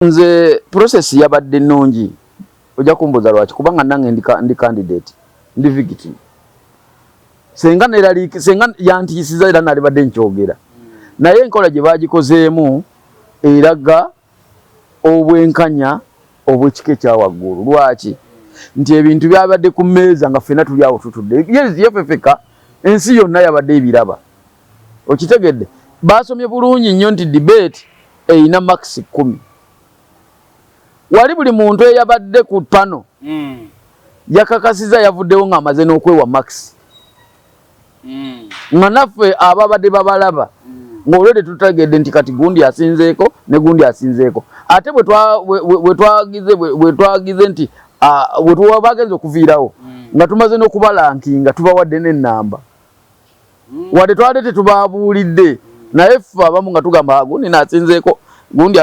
Nze process yabadde nungi ojja kumbuza lwaki kubanga nange ndi, ndi candidate ndi victim senga nerali senga yantisiza era nali badde nkyogera naye enkola gye bagikozeemu eraga obwenkanya obwekika ekya waggulu lwaki nti ebintu byabadde ku mmeeza nga ffena tuli awo tutudde yefefeka ensi yonna yabadde ebiraba okitegedde baasomye bulungi nnyo nti debate erina makisi kkumi wali buli muntu eyabadde ku pano mm. yakakasiza yavuddewo ng'amaze n'okwewa makisi mm. nga naffe ababadde babalaba mm. ng'olwedde tutegedde nti kati gundi asinzeeko ne gundi asinzeeko ate bwetwagize nti bwetuwa bagenza okuviirawo mm. nga tumaze n'okubalankinga tubawadde n'ennamba wadde twali tetubabuulidde naye ffe abamu nga tugamba ah, gundi nasinzeeko gundi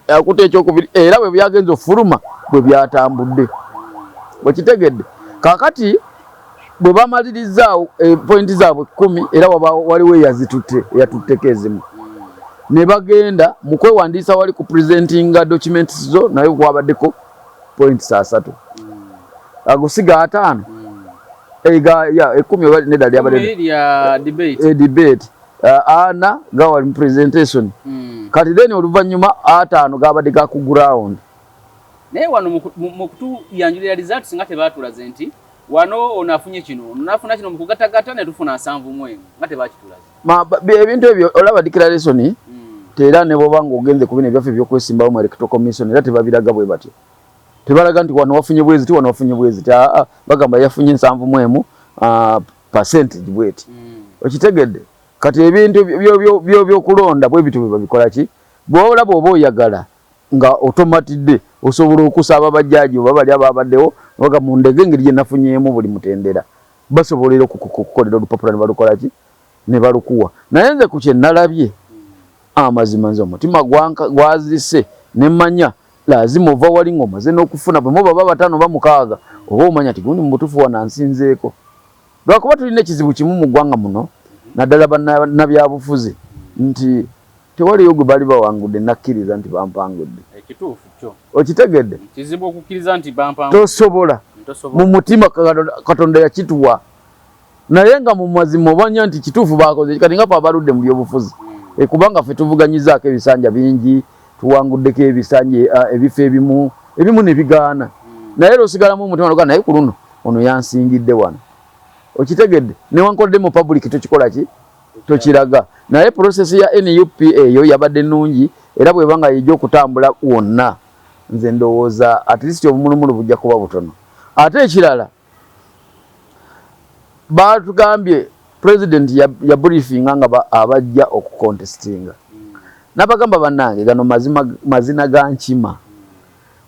akuta ekyokubiri era bwe byagenza okufuluma bwe byatambudde bwekitegedde kakati bwe bamalirizaawo eh, pointi zaabwe kumi era waliwo eyazitutte eyatutteko ezimu ne bagenda mu kwewandiisa wali ku presentinga documents zo naye kwabaddeko points asatu agusiga ataano ega ya ekumi oba nedda lyabadde lya debate e debate uh, ana gawali mu presentation mm. kati then oluvannyuma ataano gabadde ga ku ground naye wano mu kutuyanjulira results nga tebatulaze nti wano ono afunye kino ono nafuna kino mu kugatagata ne tufuna nsanvu mwemu nga tebakitulaze Ma, ebintu ebyo olaba declaration mm. tera ne boba ngo ogenze kubine byafe byo kwesimbawo mu electoral commission era tebabiraga bwe batyo tebalaga nti wano wafunye bwezi ti wano wafunye bwezi ta ah, ah, bagamba yafunye nsanvu mwemu uh, percentage bweti mm. okitegedde kati ebintu byo byo byo byo kulonda bwe bitu babikola ki bwola bwoba oyagala nga otomatidde osobola okusaba bajjaji oba bali ababaddewo oga mu ndege ngeri gye nafunyemu buli mutendera Basobola era okukukolera olupapula nebalukola ki nebalukuwa naye nze ku kyenalabye amazima nze omutima gwazirise nemanya lazima ova wali nga omaze n'okufuna bwe muba babatano bamukaaga oba omanya ti gundi mu butuufu wanansinzeeko lwakuba tulina ekizibu kimu mu ggwanga muno naddala banabyabufuzi nti Tewaliyo gwe baali bawangudde nakkiriza nti bampangudde. Ekituufu kyo. Okitegedde? Kizibu okukkiriza nti bampangudde. Tosobola. Mu mutima Katonda yakituwa. Naye nga mu mazima obanya nti kituufu baakoze kati nga fe abaludde mu byobufuzi. Hmm. Eh, kubanga fe tuvuganyizaako ebisanja bingi, tuwanguddeko ebisanja eh, ebifo ebimu, ebimu ne bigaana. Hmm. Naye era osigalamu omutima noga naye ku luno ono yansingidde wano. Okitegedde? Newankodde mu public tukikola ki? tokiraga naye process ya nup eyo yabadde nungi era bweba nga yija okutambula wonna nze ndowooza at least obumulumulu bujja kuba butono ate ekirala batugambye president yabriefinga nga abajja okucontestinga nabagamba banange gano mazima mazina ga nkima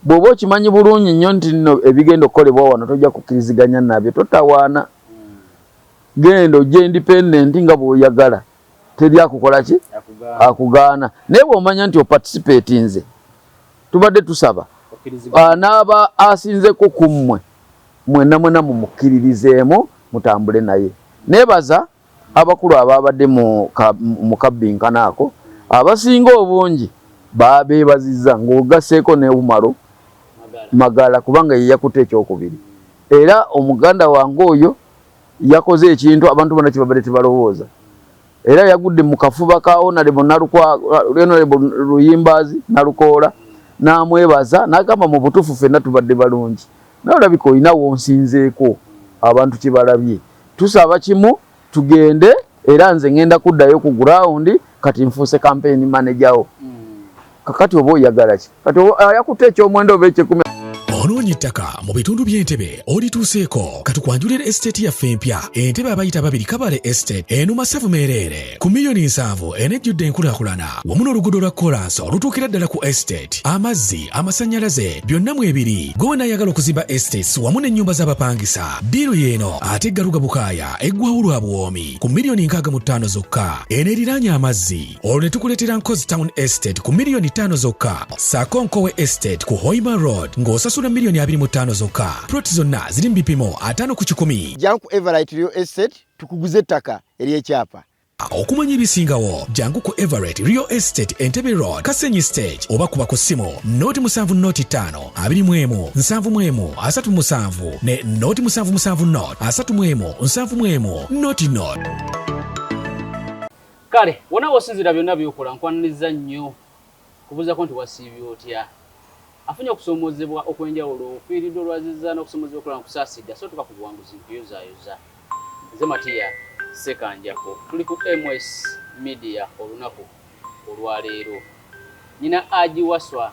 bwoba okimanyi bulungi nnyo nti nno ebigenda okukolebwa wano tojja kukkiriziganya nabyo totawaana genda ojje independent nga bwoyagala teri akukola ki akugaana naye bwomanya nti opatisipeti nze tubadde tusaba ah, naaba asinzeko ku mmwe mwena mwena mumukkiririzeemu mutambule naye nebaza abakulu ababadde mu kabbinkana ako abasinga obungi babebaziza ngaogaseeko neumaro magala kubanga yeyakuta ekyokubiri era omuganda wange oyo yakoze ekintu abantu bona kyebabadde tebalowooza era yagudde mu kafuba ka onalebo luyimbaazi nalukoola namwebaza nagamba mu butuufu fenna tubadde balungi naye olabika olina wonsinzeeko abantu kyebalabye tusaba kimu tugende era nze ngenda kuddayo ku gurawundi kati nfuuse kampeyini manejawo kakati oba oyagala ki kati ayakutte ekyomwenda oba ekyekumi onoonya ettaka mu bitundu by'entebe olituuseeko katukwanjulira esiteeti yaffe empya entebe abayita babiri kabale esiteeti eno masavu meereere ku miliyoni nsanvu enejjudde enkulaakulana wamu n'oluguudo lwa kolansi olutuukira ddala ku esiteeti amazzi amasannyalaze byonna mu ebiri gwe wenaayagala okuzimba esiteeti wamu n'ennyumba z'abapangisa ddiiru y'eno ate eggaluga bukaaya eggwawo lwa buwoomi ku miliyoni nkaaga mu ttaano zokka eno eriraanye amazzi olwo ne tukuleetera nkozi town estate ku miliyoni ttaano zokka saako nkowe estate ku hoima road ng'osasula miliyoni abiri mu ttaano zokka proti zonna ziri mu bipimo ataano ku kikumi janku everit real estate tukuguze ettaka ery'ekyapa okumanya ebisingawo jangu ku everett real estate entebe road kasenyi stage oba kuba ku ssimu noti musanvu noti ttaano abiri mu emu nsanvu mu emu asatu musanvu ne noti musanvu musanvu not asatu mu emu nsanvu mu emu noti not kale wona wosinzira byonna byokola nkwaniriza nnyo kubuuzako nti wasiibye otya afunye okusoomozebwa okwenjawulo ofiiridde olwaziza n'okusoomozebwa okulana kusaasidde asootuka ku buwanguzi nkuyozaayoza nze matiya sekanjako tuli ku ms media olunaku olwaleero nyina agiwaswa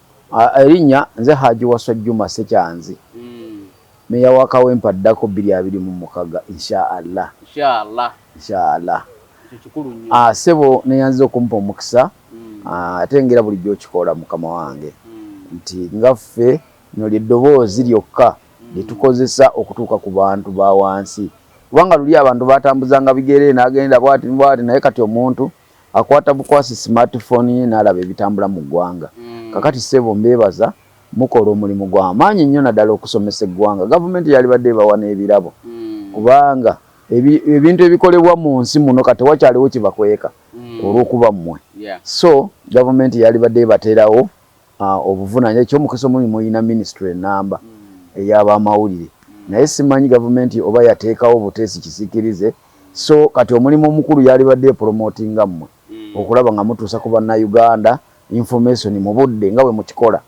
Erinnya nze Hajji Wasswa Jjuma Ssekyanzi, Meeya wa Kawempe addako bbiri abiri mu mukaaga insha Allah. Insha Allah. Ah, ssebo neyanziza okumpa omukisa hmm. ah, ate ngera bulijjo okikola mukama wange hmm. nti nga ffe lino lyeddoboozi lyokka hmm. lyetukozesa okutuuka ku bantu ba wansi kubanga luli abantu batambuzanga bigere nagenda bwati bwati naye kati omuntu Akwata bukwasi smart phone ye nalaba ebitambula mu gwanga. Mm. Kakati sebo mbebaza mukola omulimu gwa maanyi nnyo nadala okusomesa eggwanga. Gavumenti yalibadde ebawa n'ebirabo. Mm. Kubanga ebintu ebikolebwa mu nsi muno kati tewakyaliwo kibakweka mm. olw'okuba mmwe. Yeah. So gavumenti yalibadde ebaterawo Ah, obuvunanya ekyomukisa omuli mulina minisitule enamba mm. eyabamawulire mm. naye simanyi gavumenti oba yateekawo obuteesi kisikirize so kati omulimu omukulu yalibadde epromoti nga mmwe mm. okulaba nga mutuusa ku bannauganda information mu budde nga bwe mukikola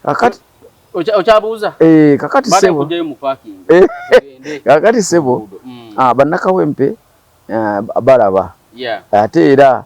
kakati eh, kakati eh, sebo ah, bannakawempe ah, balaba ate era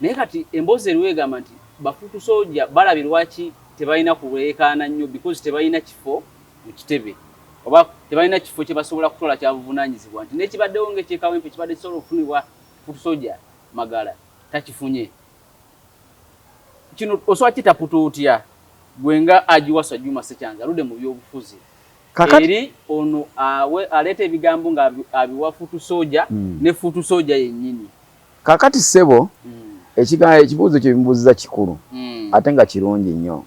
Naye kati emboozi eriwo egamba nti bafuutu soja balabye lwaki tebalina kulweekaana nnyo because tebalina kifo mu kitebe oba tebalina kifo kyebasobola kutwala kyabuvunanyizibwa nti nekibaddewo nga ekye Kawempe kibadde kisobola okufunibwa foot soja Magala takifunye kino osobola kitaputa otya gwe nga agiwasa Juma Ssekyanzi aludde mu byobufuzi Kakati. eri ono awe aleeta ebigambo nga abiwa foot soja mm. ne foot soja yennyini Kakati ssebo ekigambo ekibuuzo kye bimubuuziza kikulu ate nga kirungi nnyo.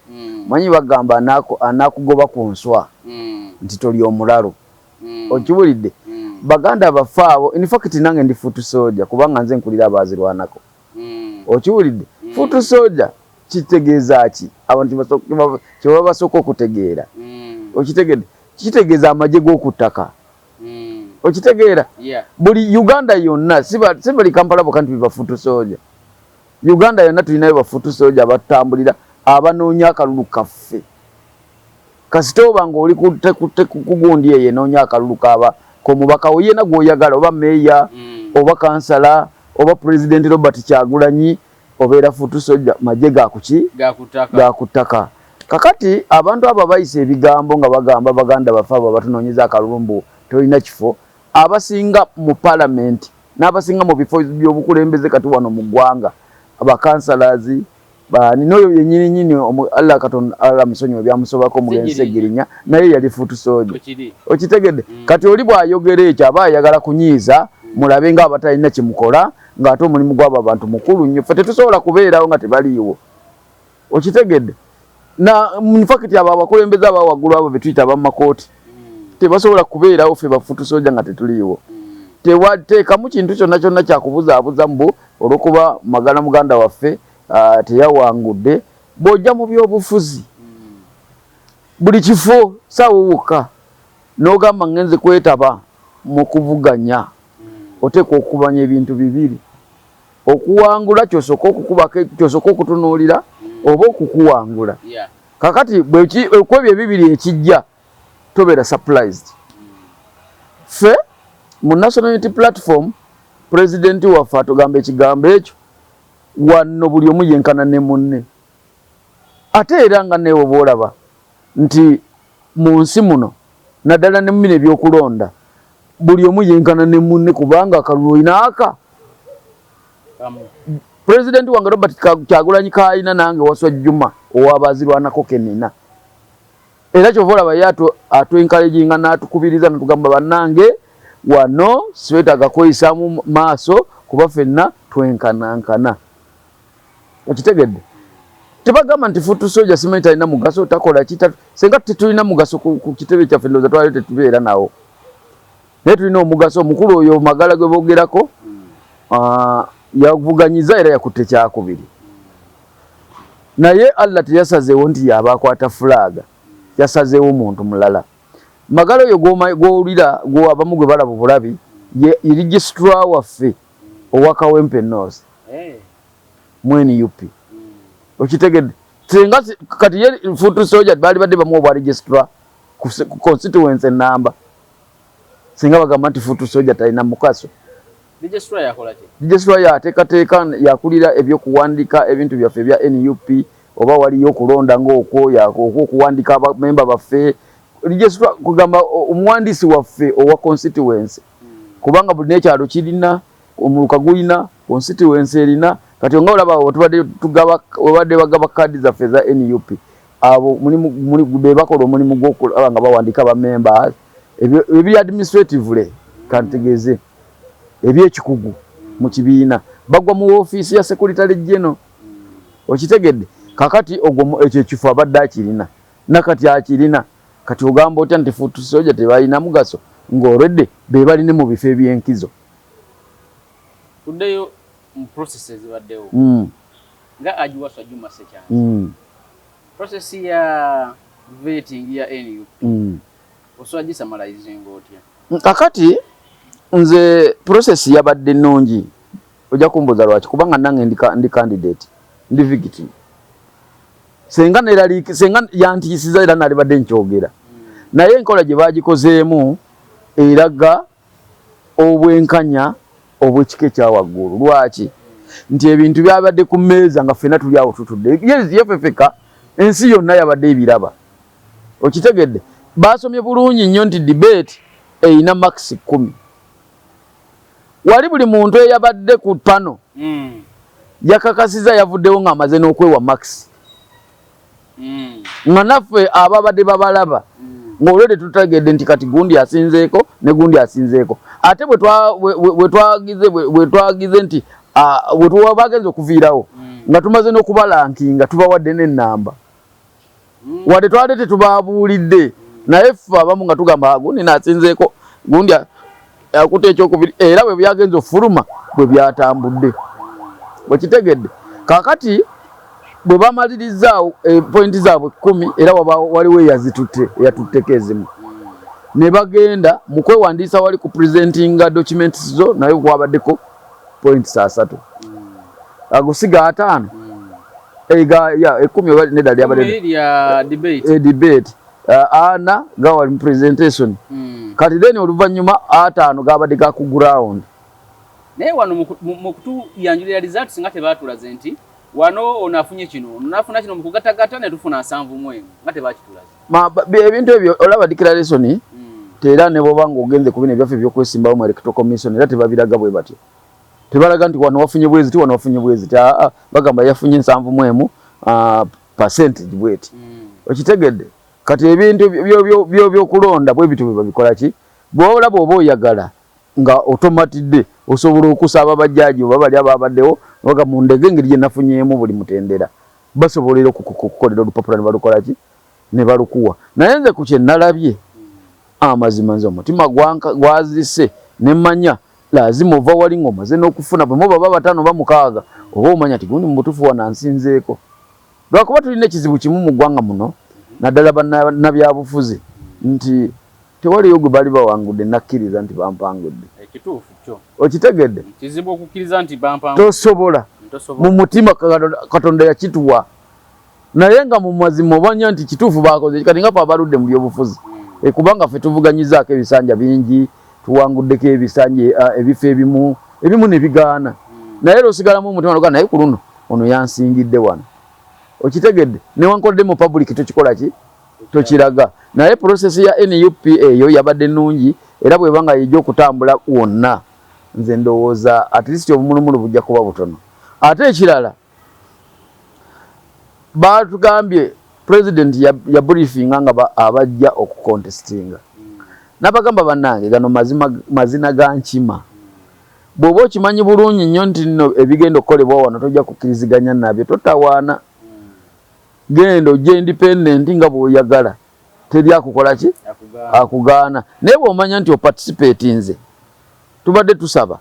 Manyi bagamba anakugoba ku nswa nti toli omulalu. Okibulidde? Baganda baffe abo, in fact nange ndi foot soldier kubanga nze nkulira abaazirwanako. Okibulidde? Foot soldier kitegeeza ki? Abantu kye baba basooka okutegeera. Okitegedde? Kitegeeza amagye g'oku ttaka. mm. okitegeera yeah. buli uganda yonna sibali kampala boka nti bibafutu soja uganda yonna tulinayo bafutu soja abatambulira abanoonya akalulu kaffe kasita oba nga oli kugundi eyo enoonya akalulu kaba komubaka oyena gwoyagala oba meeya mm. oba kansala oba pulezidenti robert kyagulanyi obeera futu soja maje gakuki gakuttaka kakati abantu abo abayisa ebigambo nga bagamba baganda bafe abo abatunonyeza akalulu mbu tolina kifo abasinga mu palamenti n'abasinga mu bifo by'obukulembeze kati wano mu ggwanga abakansalazi bani noyo yenyini nyini Allah katon Allah musonyi wa byamusobako mugense girinya naye yali futu sojo okitegede mm. kati oli bwa yogere ekyo aba yagala kunyiza mm. mulabe nga abatalina kimukola ng'ate omulimu gw'abo abantu mukulu nnyo ffe tetusobola kubeerawo nga tebaliiwo okitegedde nfakiti abo abakulembeze aba waggulu abo betuyita abamakooti tebasobola kubeerawo ffe bafutusoja nga tetuliiwo tewateekamu kintu kyonna kyonna kyakubuzaabuza mbu olwokuba magala muganda waffe ah, teyawangudde bw'ojja mu byobufuzi buli kifo saawo wokka N'ogamba ngenze kwetaba mu kuvuganya, oteekwa okumanya ebintu bibiri okuwangula kyosooka okukubako kyosooka okutunuulira oba okukuwangula. Kakati kwebyo ebibiri ekijja tobeera surprised. Ffe mu National Unity Platform pulezidenti waffe atugamba ekigambo ekyo wanno buli omu yenkana ne munne ate era nga neewo bwolaba nti mu nsi muno naddala ne mumino ebyokulonda buli omu yenkana ne munne kubanga akalulu olina aka president wange robert kyagulanyi kaalina nange waswa juma owabazirwanako kenina era kyova olaba ye atwenkalejinga natukubiriza natugamba banange wano sibetaga kweyisamu maaso kuba fenna twenkanankana okitegedde tebagamba nti futu soja simanyi talina mugaso takola kita senga tetulina mugaso ku kitebe kyaffe ndoza twali tetubeera nawo naye tulina omugaso omukulu oyo magala gwe bogerako ah, yavuganyiza era yakutte kyakubiri naye allah teyasazeewo nti yaba akwata fulaaga yasazeewo muntu mulala magala oyo gwowulira gwabamu gwe balaba obulabi ye registra waffe owa kawempe north mu nup okitegedde singa kati ye foot soldier baali badde bamu obwa registra ku constituency enamba singa bagamba nti foot soldier talina mukaso registra yateekateeka yakulira ebyokuwandika ebintu byaffe ebya nup oba waliyo okulonda ngaokwo okuwandika abamemba baffe registra kugamba omuwandiisi waffe owa constituency kubanga buli nekyalo kirina omuluka gulina konsitiwensi erina kati nga olaba wetubadde tugaba webadde bagaba kaadi zaffe eza nup abo bebakola omulimu gwokulaba nga bawandiika bamemba ebiri administratively kantegeze ebyekikugu mu kibiina bagwa mu ofiisi ya sekuritale geno okitegedde kakati ogwo ekyo ekifo abadde akirina nakati akirina Kati ogamba otya nti foot soldier tebalina mugaso nga already bebali ne mu bifo ebyenkizo. Tuddeyo mu process ezibaddewo mm. nga agiwaswa Juma Sekyanzi mm. process ya vetting ya NUP mm. osobola gisamalayizinga otya? Kakati nze process yabadde nnungi ojja kumbuuza lwaki kubanga nange ndi candidate ndi victim senga neraliiki senga yantiisiza era nalibadde nkyogera naye enkola gye baagikozeemu eraga obwenkanya obwekika ekya waggulu lwaki nti ebintu byabadde ku mmeeza nga ffena tuli awo tutudde yefefeka ensi yonna yabadde ebiraba okitegedde baasomye bulungi nnyo nti debate erina makisi kkumi wali buli muntu eyabadde ku pano mm. yakakasiza yavuddewo ng'amaze n'okwewa max mm. nga naffe ababadde babalaba mm. ng'olwedde tutegedde nti kati gundi asinzeeko ne gundi asinzeeko ate bwetwagize bwetwagize nti bwetuwa bagenza okuviirawo mm. nga tumaze n'okubalankinga tubawadde n'ennamba wadde twali tetubabuulidde naye ffe abamu nga tugamba ah, gundi nasinzeeko gundi akuta ekyokubiri era bwe byagenza okufuluma bwe byatambudde bwekitegedde kakati bwe bamalirizaawo eh, pointi zaabwe kumi era waliwo eyazitutte eyatutteko ezimu ne bagenda mu kwewandiisa wali ku presentinga documents zo naye kwabaddeko points asatu agusiga ataano ega ya ekumi oba nedda lyabadde lya debate e debate ana gawali mu presentation hmm. kati then oluvannyuma ataano gabadde ga ku ground naye wano mu kutuyanjulira results nga tebaatulaze nti wano ono afunye kino ono nafuna kino mu kugatagata ne tufuna nsanvu mwemu nga tebaakitulaze Ma, ebintu ebyo olaba declaration mm. tera ne boba ngo ogenze kubine byafe byo kwesimbawo mu electoral commission era tebabiraga bwe batyo tebalaga nti wano wafunye bwezi ti wano wafunye bwezi ta ah, ah, bagamba yafunye nsanvu mwemu uh, percentage bweti mm. okitegedde kati ebintu byo byo byo byo kulonda bwe bitu babikola ki bwola bwoba oyagala nga otomatidde osobola okusaba bajjaji oba bali ababaddewo oga mu ndege ngeri gye nafunyemu buli mutendera Basobola era okukukolera olupapula nebalukola ki nebalukuwa naye nze ku kyenalabye amazima nze omutima gwazise nemanya lazima ova wali nga omaze n'okufuna bwemu baba batano bamukaaga oba omanya ti gundi mubutufu wanansinzeeko lwakuba tulina ekizibu kimu mu ggwanga muno naddala banabyabufuzi nti Tewaliyo gwe baali bawangudde nakkiriza nti bampangudde. Ekituufu kyo. Okitegedde? Kizibu okukkiriza nti bampangudde. Tosobola. Mu mutima Katonda yakituwa. Naye nga mu mazima obanya nti kituufu baakoze kati nga fe abaludde mu byobufuzi. Hmm. Eh, kubanga fe tuvuganyizaako ebisanja bingi, tuwanguddeko ebisanja eh, ebifo ebimu, ebimu ne bigaana. Hmm. Naye era osigalamu omutima noga naye ku luno ono yansingidde wano. Okitegedde? Newankodde mu public tukikola ki? tokiraga naye process ya nup eyo yabadde nungi era bweba nga yija okutambula wonna nze ndowooza at least obumulumulu bujja kuba butono ate ekirala batugambye president yabriefinga nga abajja okucontestinga nabagamba banange gano mazina ga nkima bwoba okimanyi bulungi nnyo nti nno ebigenda okukolebwa wano tojja kukkiriziganya nabyo totawaana genda ojje independent nga bwoyagala teri akukola ki akugaana naye bwomanya nti opatisipeti nze tubadde tusaba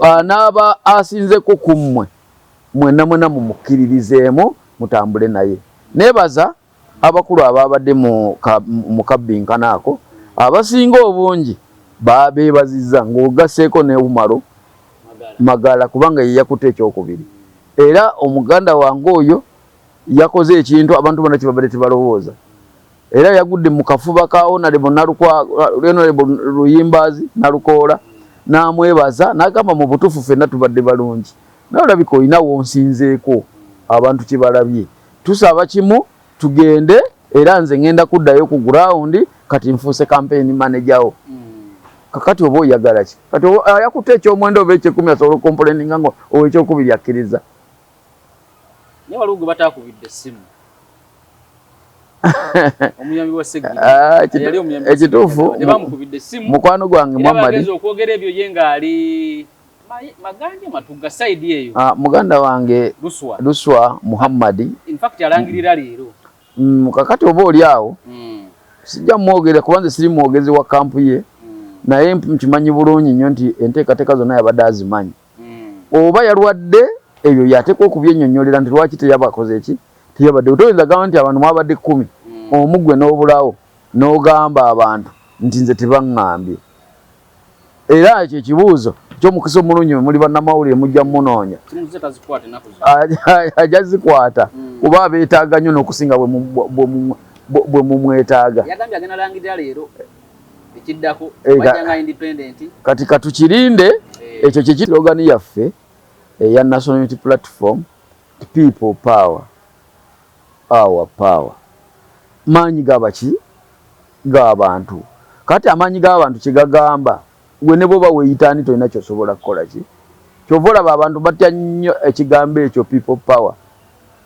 anaaba asinzeko ku mmwe mwena mwena mumukkiririzeemu mutambule naye nebaza abakulu abaabadde mu kabbinkana ako abasinga obungi babeebazizza ng'ogaseeko ne umaro magala kubanga yeyakuta ekyokubiri era omuganda wange oyo Yakoze ekintu abantu bona kyebabadde tebalowooza era yagudde mu kafuba ka Honorable Luyimbaazi Nalukoola n'amwebaza n'agamba mu butuufu fenna tubadde balungi naye olabika olina wonsinzeeko abantu kye balabye tusaba kimu tugende era nze ngenda kuddayo ku ground kati nfuuse kampeyini manejawo mm. kakati oba oyagala ki kati ayakutte ekyomwenda oba ekyekumi asobola okompoleninga nga owekyokubiri akkiriza Naye waliwo gwe bataakubidde essimu omuyambi wa segiri ah, yali omuyambi ekituufu nebamukubidde essimu mukwano gwange muhammadi okwogera ebyo ye ng'ali maganja matugga sayidi eyo ah, muganda wange luswa luswa muhammadi infact alangirira leero mm, kakati oba oli awo mm. sijja mwogera kubanze siri mwogezi wa kampu ye mm. naye nkimanyi bulungi nnyo nti enteekateeka zonna yabadde azimanyi mm. oba yalwadde ebyo yateekwa okubyenyonyolera nti lwaki teyabakoze eki teyabadde toyinza gamba nti abantu mwabadde kumi mm. omugwe n'obulawo n'ogamba abantu nti nze tebaŋŋambye era ekyo ekibuuzo kyomukisa omulungi muli bannamawulire mujja mumunoonya ajja zikwata mm. kuba abeetaaga nnyo n'okusinga bwe mumwetaaga ekiddako eh, bajja nga independent kati katukirinde eh. ekyo kye slogan yaffe eya eh, national unity platform people power our power maanyi gabaki g'abantu kati amaanyi g'abantu kye gagamba Gwe ne bwoba weyita ani tolina kyosobola kukola ki kyova olaba abantu batya nyo ekigambo ekyo people power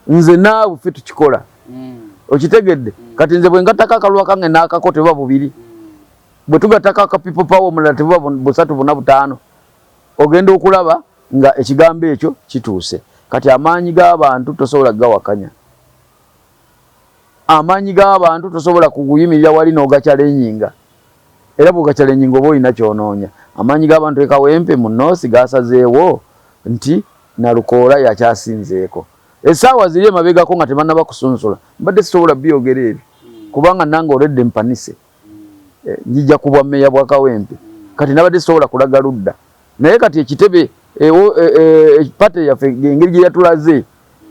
nze naawe ffe tukikola okitegedde kati nze bwengatako akalulu akange nakako tebuba bubiri bwetugatako aka people power omulala tebuba busatu buna butaano ogenda okulaba nga ekigambo ekyo kituuse kati amaanyi gabantu tosobola gawakanya. amaanyi g'abantu tosobola kuguyimirira wali n'ogakyalenjinga era bw'ogakyalenjinga oba olina ky'onoonya. Amaanyi g'abantu e Kawempe mu North gaasazeewo nti Nalukoola y'akyasinzeeko. Essaawa ziri emabegako nga tebannaba kusunsula mbadde sisobola byogera ebyo kubanga nange already mpanise. eh, njija ku bwa meeya bwa Kawempe kati nabadde sisobola kulaga ludda naye kati ekitebe ewo eh, eh, eh, pate yaffe engeri gye yatulaze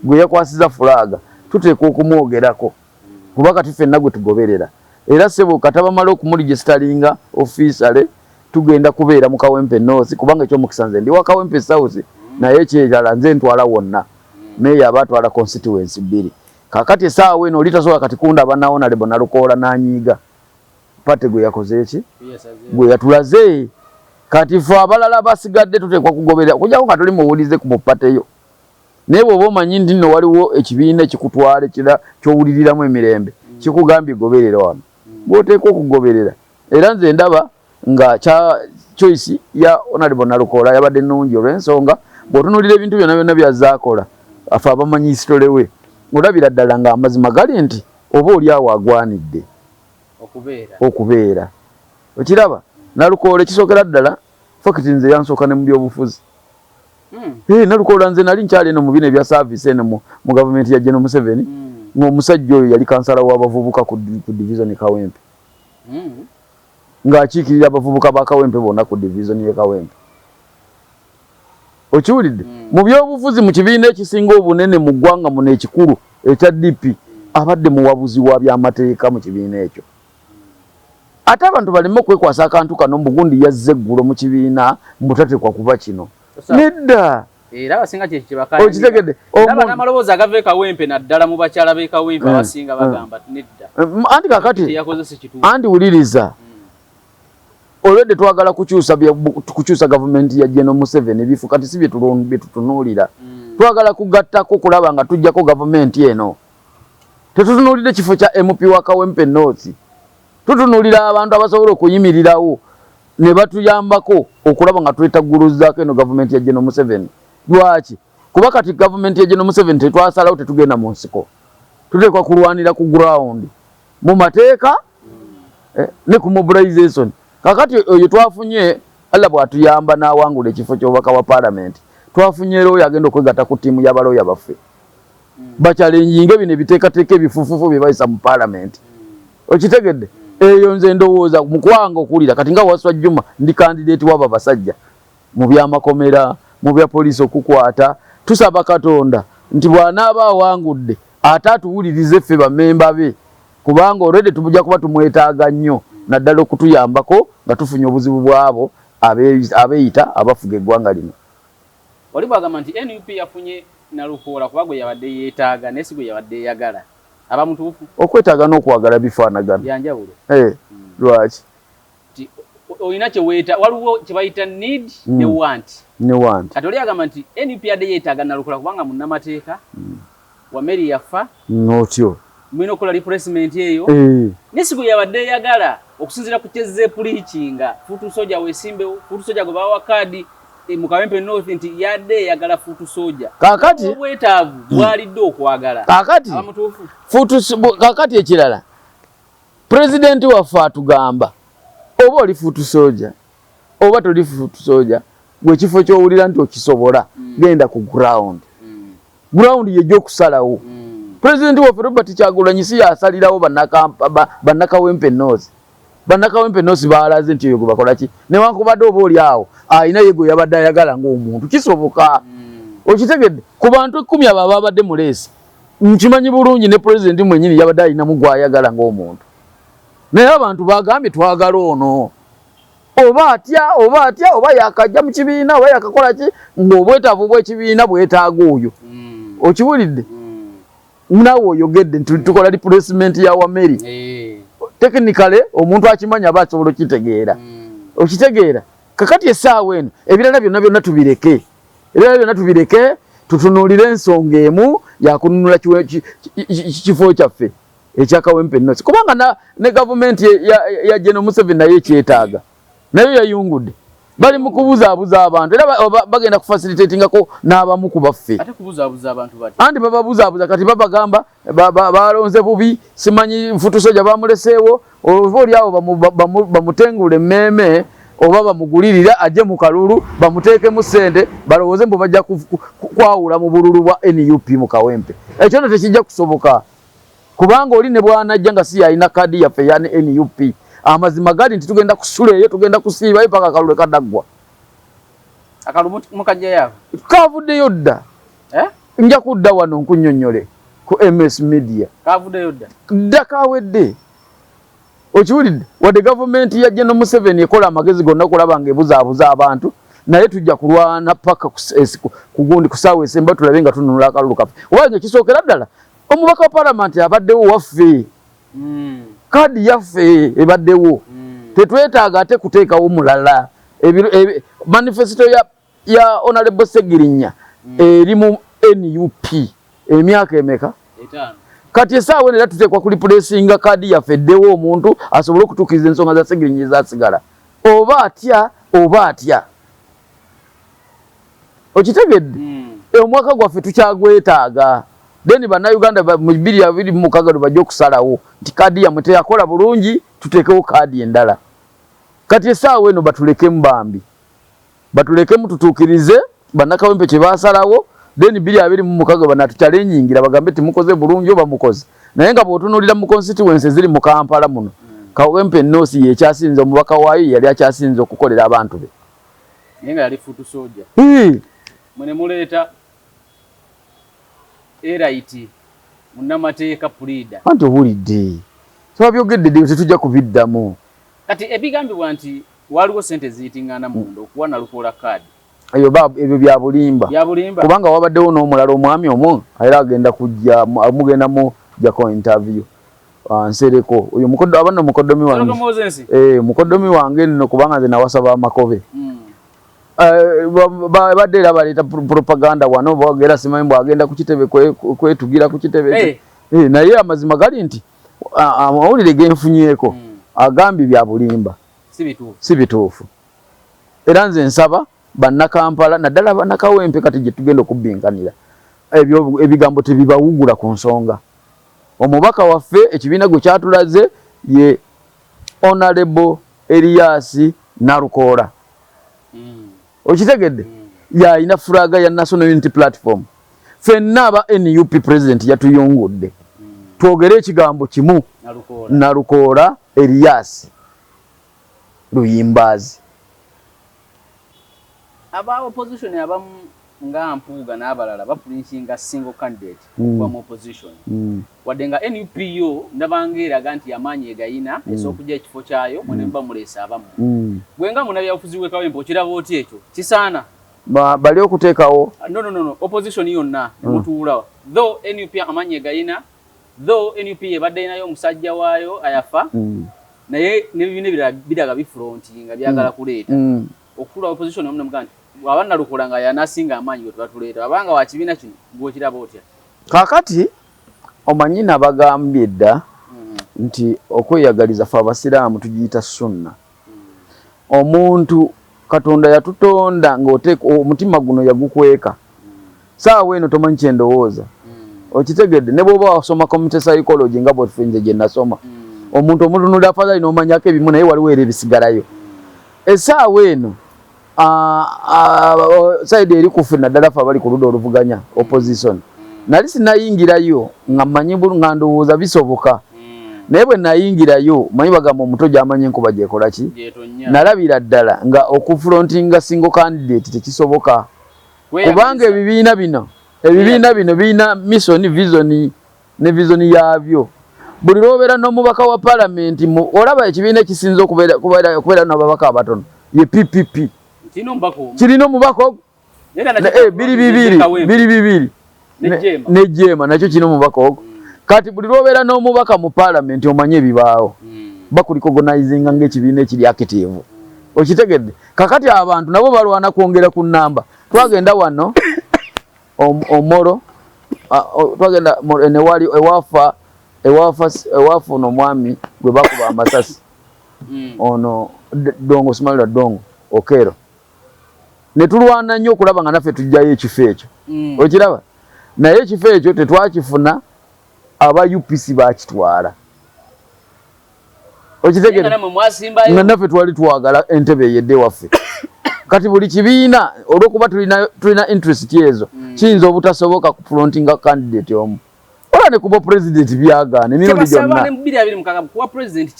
gwe yakwasiza fulaaga tuteekwa okumwogerako kuba kati fenna gwe tugoberera era sebo katabamala okumuligisitalinga ofisale tugenda kubeera mu kawempe north kubanga ekyomukisa nze ndi wa kawempe south naye ekyerala nze ntwala wonna meeya aba atwala constituency bbiri Kakati esaawa eno oli tasobola kati kundaba naona lebo nalukoola nanyiiga pate gwe yakoze eki gwe yatulaze kati fe abalala basigadde tuteekwa kugoberera okujako nga tuli muwulize ku mupateyo naye bwoba omanyi nti nno waliwo ekibiina ekikutwala ekira kyowuliriramu emirembe mm. kikugambye goberera wano mm. gwoteekwa okugoberera era nze ndaba mm. nga kya choice ya Honorable Nalukoola yabadde nnungi olw'ensonga bw'otunuulira ebintu byonna byonna by'azze akola afe abamanyi history we olabira ddala ng'amazima gali nti oba oli awo agwanidde okubeera okiraba Nalukoola ekisookera ddala fakiti nze yansooka ne mu byobufuzi hmm. eh, Nalukoola nze nali nkyali eno mu bino ebya saavisi eno mu gavumenti ya General Museveni hmm. ng'omusajja oyo yali kansala w'abavubuka ku divizoni Kawempe hmm. ng'akiikirira abavubuka ba Kawempe bonna ku divizoni y'e Kawempe. Okiwulidde? Hmm. Mu byobufuzi mu kibiina ekisinga obunene mu ggwanga muno ekikulu ekya DP abadde muwabuzi wa byamateeka mu kibiina ekyo. Ate abantu baleme okwekwasa akantu kano mbu gundi yazze eggulo mu kibiina mbu tateekwa kuba kino. Nedda. Era abasinga kye kibakala. Okitegedde. Omuntu amaloboozi agava ekawempe naddala mu bakyala b'ekawempe eh, abasinga eh. bagamba nedda. Eh, anti kakati anti wuliriza hmm. olwedde twagala kukyusa kukyusa gavumenti ya General Museveni ebifu kati si byetutunuulira hmm. twagala kugattako kulaba nga tujjako gavumenti eno tetutunuulidde kifo kya MP wa Kawempe North Tutunulira abantu abasobola okuyimirirawo ne batuyambako okulaba nga twetagguluzaako eno gavumenti ya General Museveni. Lwaki? Kuba kati gavumenti ya General Museveni tetwasalawo tetugenda mu nsiko. Tuteekwa kulwanira ku ground mu mateeka eh, ne ku mobilization. Kakati oyo twafunye Allah bw'atuyamba n'awangula ekifo ky'obubaka bwa palamenti twafunye looya agenda okwegatta ku ttiimu y'abalooya baffe. bakyalenjinga ebino ebiteekateeka ebifufufu bye bayisa mu paalamenti okitegedde eyo nze ndowooza mukwanga okuwulira kati nga waswa juma ndi kandideeti wabo abasajja mu byamakomera mu bya poliisi okukwata tusaba katonda nti bw'anaaba awangudde ate atuwulirize ffe bamemba be kubanga olwedde tubujja kuba tumwetaaga nnyo naddala okutuyambako nga tufunye obuzibu bw'abo abeeyita abafuga eggwanga lino Oli bw'agamba nti nup yafunye Nalukoola kuba gwe yabadde yeetaaga naye si gwe yabadde eyagala aba mutuufu? Okwetaaga n'okwagala bifaanagana? Bya njawulo. Eh, lwaki? Nti olina kye weeta, waliwo kye bayita need ne want. Ne want. Kati oli agamba nti nup yabadde yeetaaga Nalukoola kubanga munnamateeka. Wameri yafa. Notyo. Mwino kola replacement eyo. Eee. Eh. Nesigo yabadde yagala okusinzira ku kyezze pulikinga futu soja wesimbewo futu soja gwe bawa kaadi e, mu Kawempe North nti yadde yagala futu soja kakati obwetaavu hmm. bwalidde okwagala kakati abamutuufu futu kakati ekirala pulezidenti waffe atugamba oba oli futu soja oba toli futu soja gwe kifo kyowulira nti okisobola hmm. genda ku ground ground ye jo kusalawo mm. president wa Robert Kyagulanyi si yasalirawo banaka banaka wempe nozi banaka wempe nozi baalaze nti yogo bakola ki ne wanko bado obo oli awo ayina yego yabadde ayagala ngo omuntu kisoboka mm. okitegedde ku bantu ekumi abo ababadde mu leesi nkimanyi bulungi ne president mwenyini yabadde ayinamu gwayagala ngo omuntu naye abantu bagambye twagala ono oba atya oba atya oba yakajja mu kibiina oba yakakola ki ng'obwetaavu bw'ekibiina bwetaaga oyo mm. okiwulidde mm. nawe oyogedde nti tukola replacement ya wameri eh. technically omuntu akimanyi aba asobola okitegeera mm. okitegeera kakati esaawa eno ebirala byonna byonna tubireke ebirala byonna tubireke tutunuulire ensonga emu yakununula kifo kyaffe ekya kawempe nosi kubanga na, ne gavumenti ya, ya General Museveni nayo ekyetaaga nayo yayungudde bali mu kubuzaabuza abantu era bagenda kufasilitatingako n'abamu ku baffe anti bababuzaabuza kati babagamba balonze bubi simanyi nfutusoja bamuleseewo ova oli awo bamutengula emmeeme oba bamugulirire ajje mu kalulu bamuteekemu ssente balowooze mbu bajja kwawula mu bululu bwa nup mu kawempe ekyo no tekijja kusoboka kubanga oli ne bwanajja nga si yalina kaadi yaffe eya nup amazima gali nti tugenda kusula eyo tugenda kusiibayo paka akalule kadaggwa kavuddeyo dda eh? nja kudda wano nkunyonyole ku ms media dda kawedde okiwulidde wadde gavumenti ya jeno museveni ekola amagezi gonna okulaba nga ebuzaabuza abantu naye tujja kulwana paka kugundi kusaawa esemba tulabe nga tununula akalulu kaffe oba nge kisookera ddala omubaka wa palamenti abaddewo waffe hmm. kaadi yaffe ebaddewo hmm. tetwetaaga ate kuteekawo mulala manifesito ya ya Honorable Segirinya mm. eri mu NUP emyaka emeka etaano kati esaawa eno era tuteekwa ku lipulesinga kaadi yaffe eddewo omuntu asobole okutuukiriza ensonga za segirinya ezasigala oba atya oba atya okitegedde hmm. eh, omwaka gwaffe tukyagwetaaga then bannayuganda mu bibiri abiri mumukaga lwe bajja okusalawo nti kaadi yamwe teyakola bulungi tuteekewo kaadi endala kati esaawa eno batulekemu bambi batulekemu tutuukirize bannakawempe kye baasalawo then bbiri abiri mu mukaga banatukyalenyingira bagambe nti mukoze bulungi oba mukoze naye nga bw'otunuulira mu constituency eziri mu kampala muno kawempe ennoosi yekyasinze omubaka waayo yeyali akyasinze okukolera abantu be naye nga yali futu soja mwene muleeta eraiti munnamateeka puliida anti owulidde kyebabyogedde dde tetujja kubiddamu kati ebigambibwa nti Waaliwo ssente eziyiting'ana munda okuwa Nalukoola kkaadi. Ebyo ba, ebyo bya bulimba. Bya bulimba? Kubanga wabaddewo n'omulala omwami omu era agenda kujja, mugenda mu jako interview. Ah, Nsereko. Oyo mukoddo, aba nno mukoddomi wange. Nsereko Mozensi? Eh, mukoddomi wange nno kubanga nze nawasa ba Makobe. Mm. Eh, badde era baleeta propaganda wano bogera simanyi mbu agenda ku kitebe kwetugira ku kitebe eh. Eh, naye amazima gali nti amawulire genfunyeeko hmm. agambye bya bulimba si bituufu era nze nsaba bannakampala naddala bannakawempe kati gye tugenda okubbinkanira ebyo ebigambo tebibawugula ku nsonga omubaka waffe ekibiina gwe kyatulaze ye onalebo eriyasi nalukoola mm. okitegedde yalina furaga ya national unity platform fenna aba nup president yatuyungudde twogere ekigambo kimu nalukoola eriyasi luyimbaazi aba opposition abamu nga mpuuga n'abalala bapulinsinga single candidate okuva mm. mu opposition mm. wadde nga nup yo ndabanga eraga nti amaanyi egayina mm. esookuja ekifo kyayo mwene muba muleese abamu gwe nga munabyabufuzi wekawempe okiraba oti ekyo kisaana bali okuteekawo ah, nonono opposition yonna emutuula though nup amaanyi egayina though nup ebadde yinayo omusajja waayo ayafa naye nebibiina ebirala biraga bifronti nga byagala kuleeta Okutula opposition omu nemugaa nti bwaba Nalukoola nga yanasinga amaanyi gwetuba tuleeta bwaba nga wa kibiina kino gwe okiraba otya? Kaakati omanyi nabagambye dda nti okweyagaliza fe abasiraamu tugiyita sunna. Omuntu Katonda yatutonda nga oteekwa omutima guno yagukweka. saawa eno tomanyi kyendowooza hmm. okitegedde ne bwoba wasoma community psychology nga bwefe nze gye nasoma hmm. omuntu omutunulira afadhali nomanyako ebimu naye waliwo era ebisigalayo esaawa eno saidi eri kufe naddala fe abali ku ludda oluvuganya hmm. opposition nali sinayingirayo nga manyi nga ndowooza bisoboka naye bwe nayingirayo manyi bagamba omuto gyamanyi enkuba gyekola ki nalabira ddala nga okufulontinga single candidate tekisoboka kubanga ebibiina bino ebibiina bino birina misoni visoni ne visoni yaabyo buli lwobeera n'omubaka wa palamenti olaba ekibiina ekisinza okubeera nababaka abatono ye ppp kirina omubaka eh, biri bibiri biri bibiri ne jeema nakyo kirina omubaka ogwo kati buli lwobeera n'omubaka mu paalamenti omanye ebibaawo hmm. bakulikogonizinga ngaekibiina ekiri akitivu okitegedde kakati abantu nabo balwana kwongera ku namba twagenda wano omoro twagenda newali ewafa ewafuna omwami gwe bakuba amasasi hmm. ono dongo simalira dongo okero ne tulwana nnyo okulaba nga naffe tujjayo ekifo ekyo mm. okiraba naye ekifo ekyo tetwakifuna aba upc bakitwala okitegera nga naffe twali twagala entebe eyedde waffe kati buli kibiina olwokuba tulina interest ezo mm. kiyinza obutasoboka ku frontinga candidate omu ola ne kuba president byagaana emirundi gyonna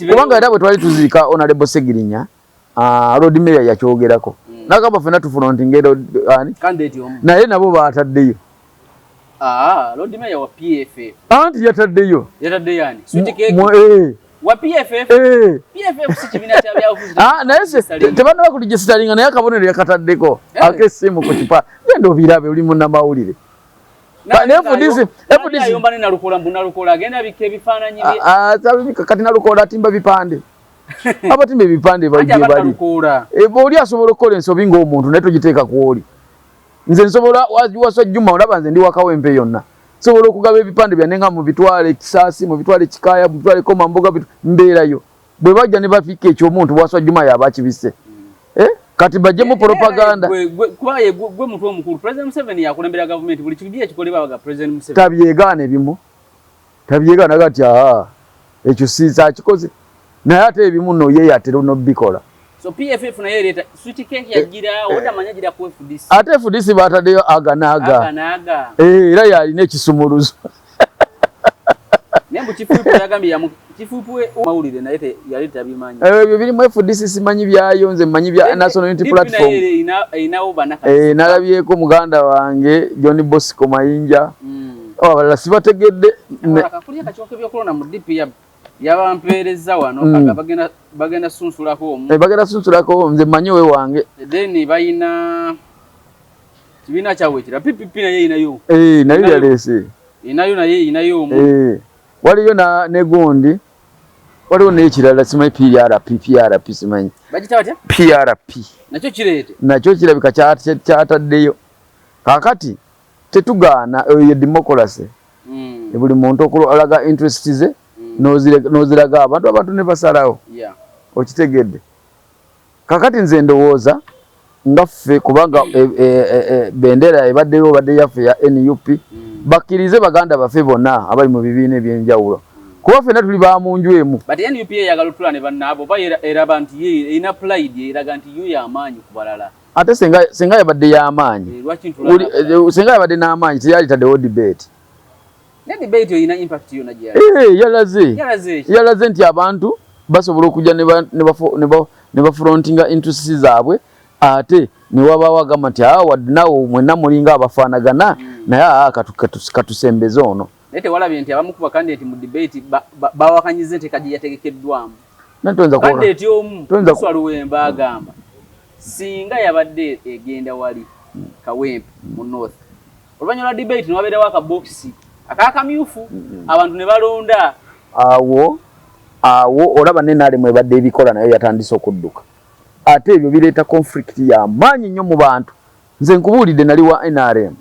kubanga era bwe twali tuziika onalebo segirinya mm. Ah, Lord Mayor yakyogerako mm. nagamba fena tufrontinge naye nabo bataddeyo ah, anti yataddeyo tebanaba kuligisitalinga naye akabonero yakataddeko eh. akesimu ku kipa genda obirabe oli munamawulire kati nalukola atimba bipande abatima ebipande bajebali eba oli asobola okukola ensobi ngaomuntu naye togiteeka kwoli nze nsobola wasa juma olaba nze ndi wakawempe yonna nsobola okugaba ebipande byanne nga mubitwale kisaasi mubitwale kikaya mubitwale komamboga mbeerayo bwe bajja ne bafiika ekyomuntu wasa juma yaba akibise eh? kati bajemu eh, eh, propaganda kwaye gwe mutwe omukulu president museveni yakulembera gavumenti buli kimu ekikolebwa baga president museveni tabyegaana ebimu Tabyega naga ati aha ekyo sinza akikoze naye ate ebimu no ye yatero no bikola. So PFF naye leta sweet cake ya gira eh, oda eh. manya gira ku FDC. Ate FDC bata deyo aga naga. Aga naga. Eh ira ya ine kisumuruzo. Nembu chifupu ya gambi ya mu chifupu e maulire na yete ya leta bimanya. Eh byo biri mu FDC simanyi bya yonze manyi bya National Unity Platform. Ina ina oba naka. Eh nalabiye ko muganda wange John Bosco Mayinja. Mm. Oh, abalala sibategedde yabampeereza wano mm. bagenda sunsulako omu eh, bagenda sunsulako omu nze manyi owe wange then balina kibiina kyawekira ppp naye inayo eh, nayo yaleese inayo naye inayo omu eh, waliyo negundi waliwo nekirala simanyi prp prp simanyi prp nakyo kirabika kyataddeyo kakati Tetugaana eyo ye democracy mm. buli muntu okulaga interest ze mm. noziraga abantu abantu nebasalawo yeah. okitegedde kakati nze ndowooza nga ffe kubanga e, e, e, e, bendera ebaddeyo obadde yaffe ya nup mm. bakkirize baganda baffe bonna abali mu bibiina ebyenjawulo kuba fena tuli ba munju emu but nup eyagala otula ne bannaabo oba eraba nti erina pulide eraga nti yo yamaanyi ku balala ate senga senga yabadde yamaanyi eh, eh, senga yabadde n'amaanyi teyali taddewo debate eh, yalaze nti abantu basobola okujja ne bafrontinga interest zaabwe ate newabaawo agamba nti aa ah, wad nawo mwena mulinga abafaanagana hmm. naye aa ah, katusembeze ono naye tewalabye nti abamu kuba kandi nti mu debate bawakanyiza enteeka gye yategekeddwamu naye toyinza kuona toyinza kuona Singa yabadde egenda wali Kawempe mu North, oluvannyuma lwa debate ne wabeerawo akabokisi ak'akamyufu abantu ne balonda awo awo olaba ne nalemu ebadde ebikola nayo yatandise okudduka ate ebyo bireeta conflict ya maanyi nnyo mu bantu nze nkubuulidde nali wa nrm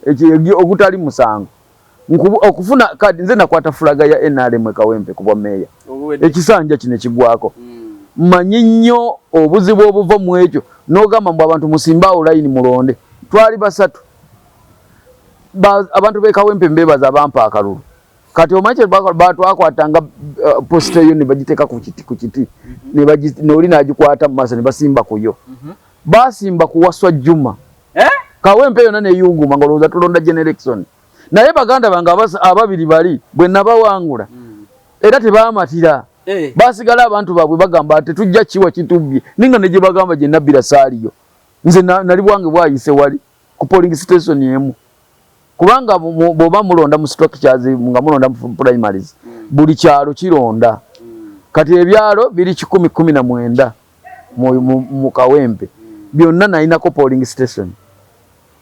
hmm. ogutali musango okufuna kadi nze nakwata fulaga ya nrm ekawempe ku bwameeya ekisanja kino ekigwako hmm. manyi nnyo obuzibu obuva mu ekyo nogamba mbu abantu musimbe awo layini mulonde twali basatu abantu bekawempe mbebaza bampa akalulu kati omanyi kyetwakwatanga uh, posita yo nebagiteeka ku kiti mhm. noli nagikwata mu maaso nebasimba kuyo mhm. Baasimba ku Waswa Juma eh? kawempe yona neyunguma nga olowooza tulonda generation naye baganda bange ababiri bali bwe nabawangula hmm. era tebaamatira eh. baasigala abantu baabwe bagamba tetujja kiwa kitubbye ninga ne gye bagamba gye nabbira saaliyo nze nali bwange bwayise wali ku polling station emu kubanga bwoba mulonda mu structures nga mulonda mu primaries mm. buli kyalo kironda mm. kati ebyalo biri kikumi kumi na mwenda mu kawempe mm. byonna nalinako polling station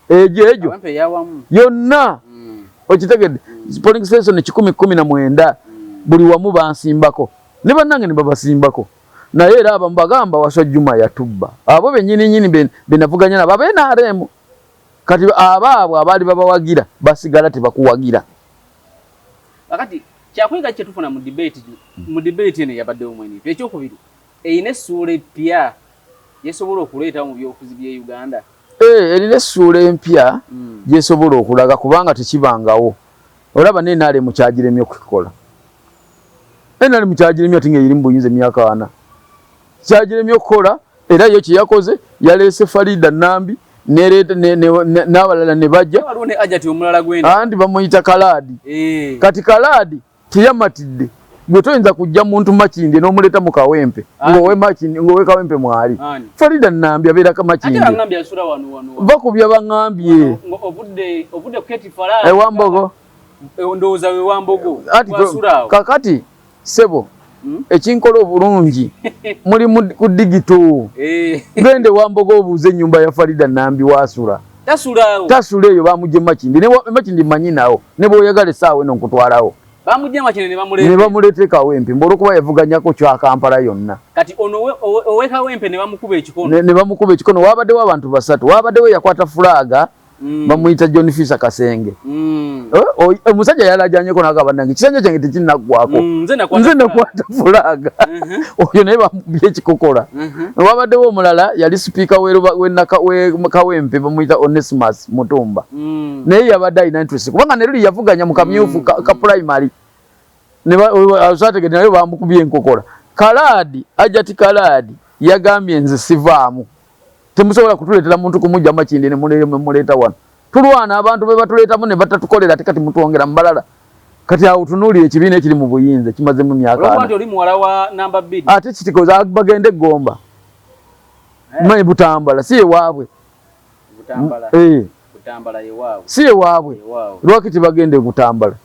egyo egyo yonna okitegedde polling station kikumi kumi na mwenda buli wamu bansimbako ne bannange ne babasimbako Naye era abamu bagamba waso juma yatubba abo benyini nyini benavuganya nabo abe naremu kati abaabwe abaali babawagira basigala tebakuwagira kakati kyakuyiga kyetufuna mu debate mu debate eno yabaddewo mwenifu ekyokubiri erina essuula eppya yesobola okuleetawo mu byobufuzi bye uganda eh, erina essuula empya hmm. gyesobola okulaga kubanga tekibangawo olaba nenaremu kyagiremye okukikola nrm kyagiremye ati nga eri mu buyinza emyaka ana kyagiremye okukola era yo kyeyakoze yaleese farida nambi n'abalala ne bajja andi bamuyita kalaadi eh. kati kalaadi teyamatidde gwe toyinza kujja muntu makindye n'omuleeta mu kawempe ng'owe kawempe mwali farida nambi abeera ka makindye va ku byabaŋambye ewambogo Eh, ndowooza we wambogo wasula awo kakati sebo hmm? ekinkola obulungi muli ku digito eh. gende wambogo obuuze ennyumba ya farida nambi wasula tasula eyo bamugye makindi makindi manyi nawo ne bwoyagala esaawa eno nkutwalawo ne bamuleteekawo empi mba olwokuba yavuganyako kyakampala yonna ne bamukuba ekikono wabaddewo abantu basatu wabaddewo yakwata fulaaga mm. bamuyita john fisa kasenge mm. eh, oh, eh, omusajja yalajanyeko naga banange kisanja kyange tekinaggwako mm, nze nakwata fulaga mm-hmm. oyo naye bamubye ekikokola mm-hmm. wabaddewo omulala yali sipiika wekawempe bamuyita onesimus mutumba naye yabadde alina interest kubanga neruli yavuganya mu kamyufu ka primary asategede naye bamukubye enkokola kalaadi ajati kalaadi yagambye nze sivaamu temusobola kutuletera muntu kumujja makindi ne muleyo mwe muleta wano tulwana abantu be batuletamu ne batatukolera ate kati mutwongera mbalala kati awo tunuulira ekibiina ekiri mu buyinza kimazemu myaka ate kitikoza bagende egomba eh. mwe butambala si ewaabwe eh. si ewaabwe lwaki tibagenda egutambala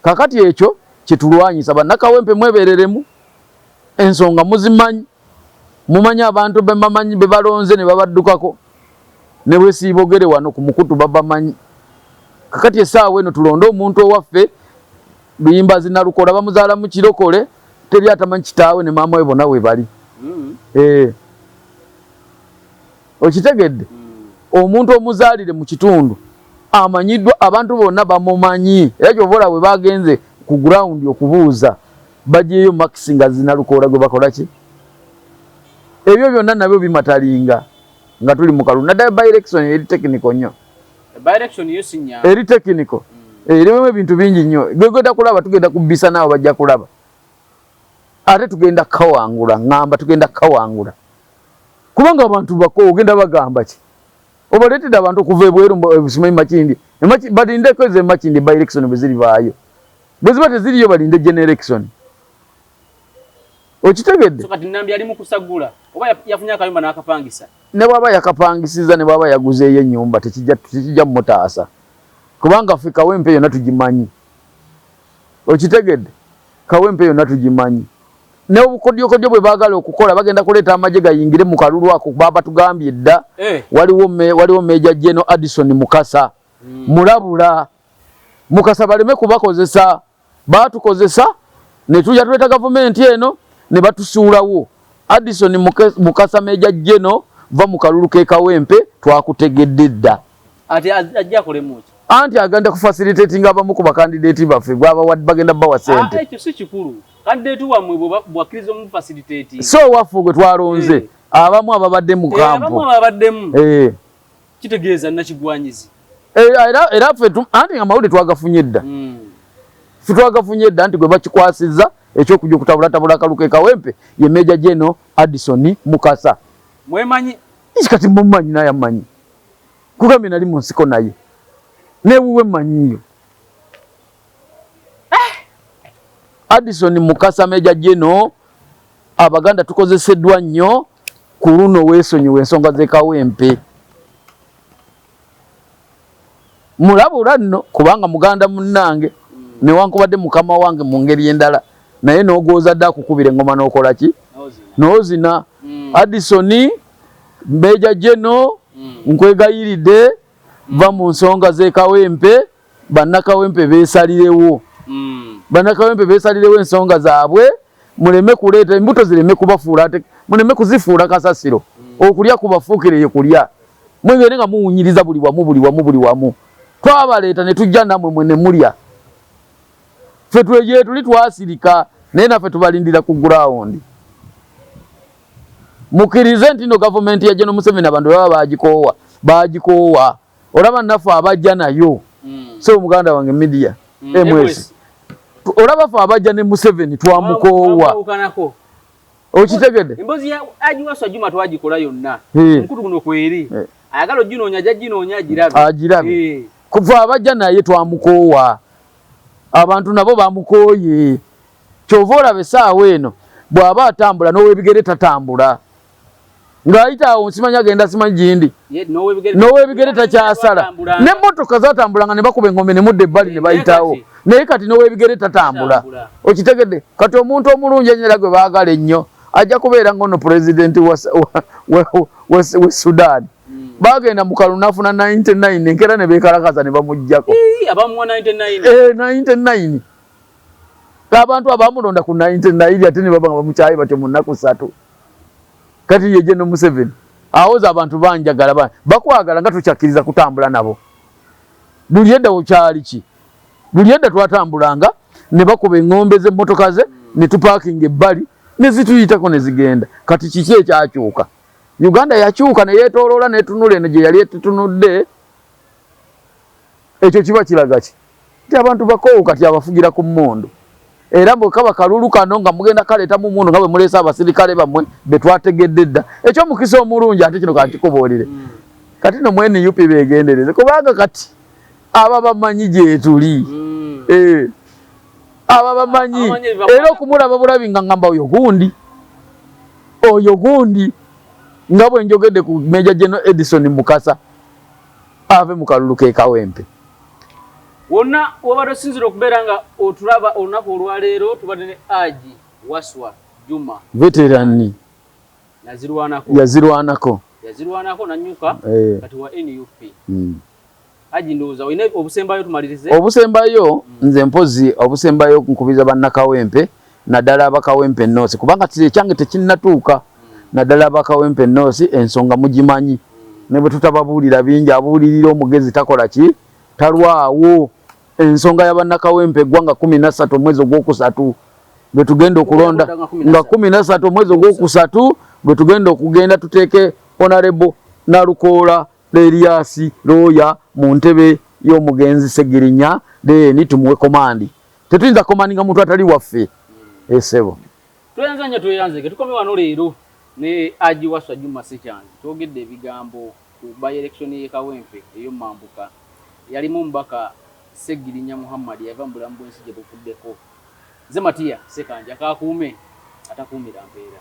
kakati ekyo kyetulwanyisa banakawempe mwebereremu ensonga muzimanyi Mumanyi abantu bebamanyi bebalonze nebabaddukako nebwesibogere wano kumukutu babamanyi kakati esaawa eno tulonde omuntu owaffe luyimbazi nalukola bamuzaala mukirokole teri atamanyi kitaawe ne maama we bona webali mm. eh. okitegedde mm. omuntu omuzaalire mu kitundu amanyiddwa abantu bonna bamumanyi era kyovola we bagenze ku gurawundi okubuuza bajeyo max nga zinalukoola gwe bakola ki ebyo byonna nabyo bimatalinga nga tuli mu kalulu naddala by election eri technical nnyo eri technical mm. eh, erimu ebintu bingi nnyo gwegenda kulaba tugenda kubisa naawe bajja kulaba ate tugenda kawangula ŋamba tugenda kawangula kubanga abantu bako ogenda bagamba ki obaleetedde abantu okuva ebweru simanyi makindi badindeko ezo emakindi by election bwe ziribaayo bweziba teziriyo balinde generation okitegedde ne bwaba yakapangisiza ne bwaba yaguzeeyo enyumba tekijja mutaasa kubanga ffe kawempe yonna tugimanyi okitegedde kawempe yonna tugimanyi neobukodyokodyo bwe bagala okukola bagenda kuleeta amagye gayingire mu kalulu ako babatugambye dda eh. waliwo meja geno addison mukasa hmm. mulabula mukasa baleme kubakozesa batukozesa netuja tuleta gavumenti eno ne batusuulawo addison mukasa meja jeno va mu kalulu kekawempe twakutegedde dda anti agenda kufasilitatinga abamu ku bakandidati baffe gwabawa bagenda bawa sente ah, so waffe gwe twalonze eh. abamu ababadde mukampu eh, kitegeeza nakigwanyizi eh, era era ffe anti amawulire twagafunye dda hmm. ffe twagafunye dda nti gwe bakikwasizza ekyokuja okutabulatabula akaluke kawempe ye meja geno addison mukasa mwemanyi isi kati mumanyi naye amanyi kugambye nali mu nsiko naye newuwe manyiyo eh! addison mukasa meja geno Abaganda tukozeseddwa nnyo ku luno, weesonyiwe ensonga z'ekawempe. mulabula nno kubanga muganda munnange newankubadde mukama wange mu ngeri endala naye n'ogwozadde akukubira engoma n'okola ki n'ozina mm. addisoni mbeja jeno mm. nkwegayiridde va mu nsonga z'ekawempe bannakawempe beesalirewo mm. bannakawempe beesalirewo ensonga zaabwe muleme kuleeta embuto zireme kubafuula ate muleme kuzifuula kasasiro mm. okulya kubafuukire ye kulya mwegere nga muwunyiriza buli wamu buli wamu buli wamu twabaleeta ne tujja namwe mwe ne mulya ffe twegye tuli twasirika naye naffe tubalindira ku gurawundi mukkirize nti no gavumenti yajja nomuseveni abantu baba bagikoowa bagikoowa olaba naffe abajja nayo mm. sebo muganda wange media mm. Eh, mwezi olaba fe abajja ne museveni twamukoowa okitegede embozi ya ajiwaso ajuma twagikola yonna mkutu kuno kweri ayagala ojinoonya ajja jinoonya agirabe agirabe kuva abajja naye twamukoowa abantu nabo bamukooye kyova olaba esaawa eno bw'aba atambula n'owebigere tatambula ng'ayita awo nsimanyi agenda simanyi gindi n'owebigere takyasala n'emmotoka zatambulanga ne bakuba engombe ne mudda ebbali ne bayitawo naye kati n'owebigere tatambula okitegedde kati omuntu omulungi enyera gwe baagala ennyo ajja kubeera ng'ono pulezidenti we sudaani bagenda mukalu nafuna 99 enkera ne bekalakaza ne bamujjako abamuwa 99 eh 99 abantu abamulonda ku 99 ate ne babanga bamukyaye batyo mu nnaku satu kati yeje no Museveni awoza abantu banjagala ba bakwagala nga tukyakiriza kutambula nabo buli edda okyali ki buli edda twatambulanga ne bakuba engombe ze motoka ze ne tupakinga ebbali ne zituyitako ne zigenda kati kiki ekyakyuka Uganda yakyuka ne yetoloola netunula eno gye yali etutunudde Ekyo kiba kilaga ki? Nti abantu bakowu kati abafugira ku mundu. Era mwe kaba kalulu kano nga mugenda kaleta mu mundu nga bwe mulesa abasirikale bamwe betwategedde dda. Ekyo mukisa omulungi ate kino kankikubuulire. Hmm. Kati no mwe NUP begendereze kubanga kati aba bamanyi gyetuli. Hmm. Eh. Aba bamanyi era okumulaba bulabi nga ngamba oyo gundi. Oyo gundi nga bwe njogedde ku Major General Edison Mukasa. ave mu kalulu k'e Kawempe. Wonna w'obadde osinziira okubeera nga otulaba olunaku olwaleero tubadde ne Haji Waswa Juma. Veterani. Yazirwanako. Yazirwanako. Yazirwanako nannyuka eh. kati wa nup. Hmm. Haji ndowooza olina obusembayo tumalirize. Obusembayo hmm. nze mpozzi obusembayo nkubiza bannakawempe nadala abakawempe nosi kubanga kiri ekyange tekinnatuuka nadala abakawempe nosi ensonga mugimanyi ne bwe tutababuulira bingi abuulirira omugezi takola ki talwawo ensonga ya bannakawempe eggwanga kumi nassatu omwezi ogwokusatu bwe tugenda okulonda nga kumi nassatu omwezi ogwokusatu bwe tugenda okugenda tuteeke onarebo nalukoola leriasi looya mu ntebe y'omugenzi segirinya deni tumuwe komandi Tetuyinza komaninga muntu atali waffe. Esebo. Eh, Tuyanza nya tuyanze ke tukome wano leero ne Aji Waswa Juma Sechanzi. Twogedde ebigambo ku by election ye Kawempe eyo mambuka. Yalimu mbaka Segirinya Muhammad yava mu bulamu bw'ensi gye buvuddeko. Nze Matiya Sekanja kakuume atakuumira mpeera.